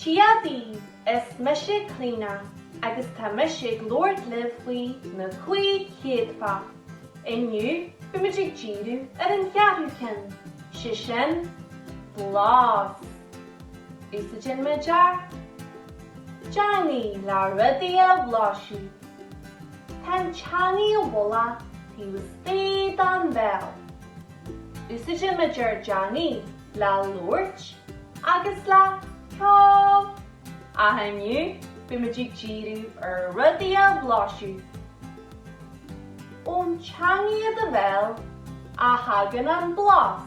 Dia dhaoibh, is mise Clíona agus tá mise ag labhairt libh faoi na cúig chéadfa. Inniu beimid ag díriú ar an cheathrú ceann, sé sin, blas. Úsáideann muid ár dteangaidh le rudaí a bhlaiseadh. Tá an teangaidh ina bhfolach taobh istigh den bhéal. Úsáideann muid ár dteangaidh le labhairt agus le ceol, ach inniu beimid ag díriú ar rudaí a bhlaiseadh. Ón teangaidh i do bhéal a thagann an blas.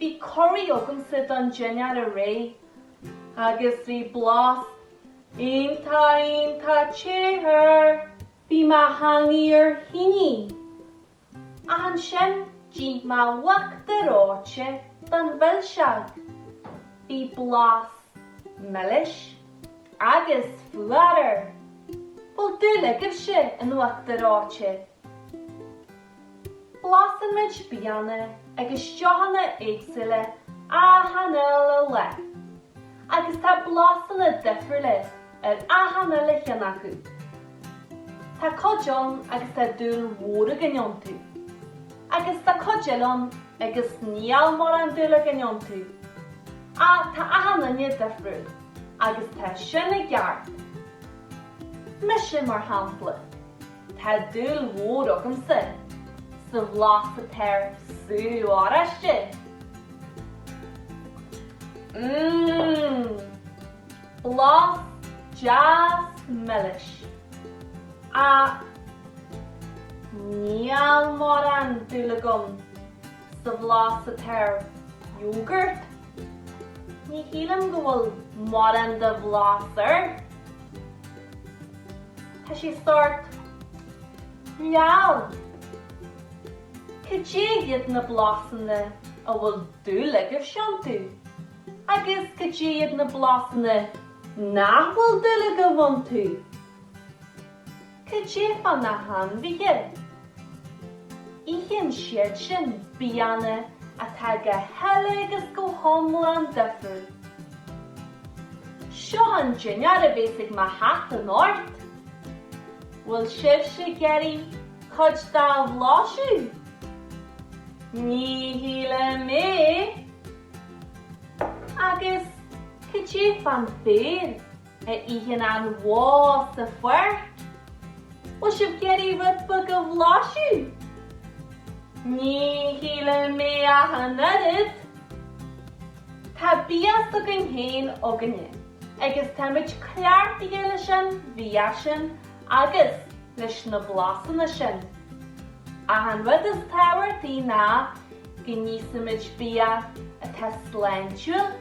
Bhí curaí agamsa don dinnéar aréir agus bhí blas iontach iontach te air! Bhí mo theangaidh ar thine! Ansin d'ith mé uachtar reoite don mhilseog. Bhí blas milis agus fuar air! Bhfuil dúil agaibhse in uachtar reoite? Blaiseann muid bianna agus deochanna éagsúla achan uile lá, agus tá blasanna difriúla ar achan uile cheann acu. Tá cuid ann agus tá dúil mhór againn iontu, agus tá cuid eile ann agus níl mórán dúil againn iontu, ach tá achan duine difriúil agus tá sin i gceart. Mise, mar shampla, Tá dúil mhór agamsa sa bhlas atá ar sú oráiste. Mmm! Blas deas milis. Ach níl mórán dúil agam sa bhlas atá ar iógart. Ní shílim go bhfuil mórán de bhlas air. Tá sé sórt leamh. Cad é iad na blasanna a bhfuil dúil agaibhse iontu agus cad é iad na blasanna nach bhfuil dúil agaibh iontu? Cad é fá na hainmhithe? Itheann siad sin bianna atá go huile agus go hiomlán difriúil. Seo an dinnéar a bhéas ag mo chat anocht. Bhfuil sibhse ag iarraidh cuid dá bhlaiseadh? Ní shílim é! Agus cad é fán béar? a itheann an bhó sa pháirc? Bhfuil sibh ag iarraidh rud beag a bhlaiseadh? Ní shílim é ach an oiread! Tá bia s'againn féin againne agus táimid cleachtaithe leis an bhia sin agus leis na blasanna sin. Ach an rud is tábhachtaí ná go n-íosfaimid bia atá sláintiúil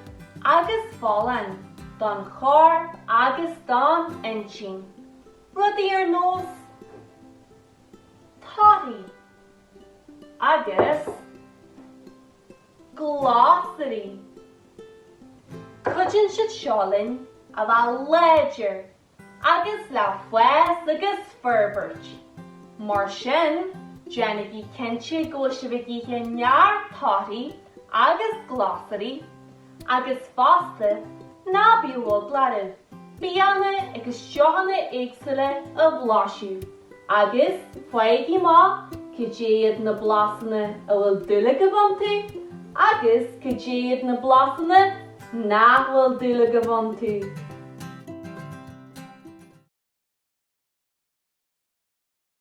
agus folláin. don chorp agus don intinn, rudaí ar nós torthaí agus glasraí. Cuidíonn siad seo linn a bheith láidir agus le fás agus forbairt. Mar sin, déanaigí cinnte go bhfuil sibh ag ithe neart torthaí agus glasraí agus fosta ná bíodh eagla oraibh bianna agus deochanna éagsúla a bhlaiseadh. Agus faighigí amach cad iad na blasanna a bhfuil dúil agaibh iontu agus cad iad na blasanna nach bhfuil dúil agaibh iontu.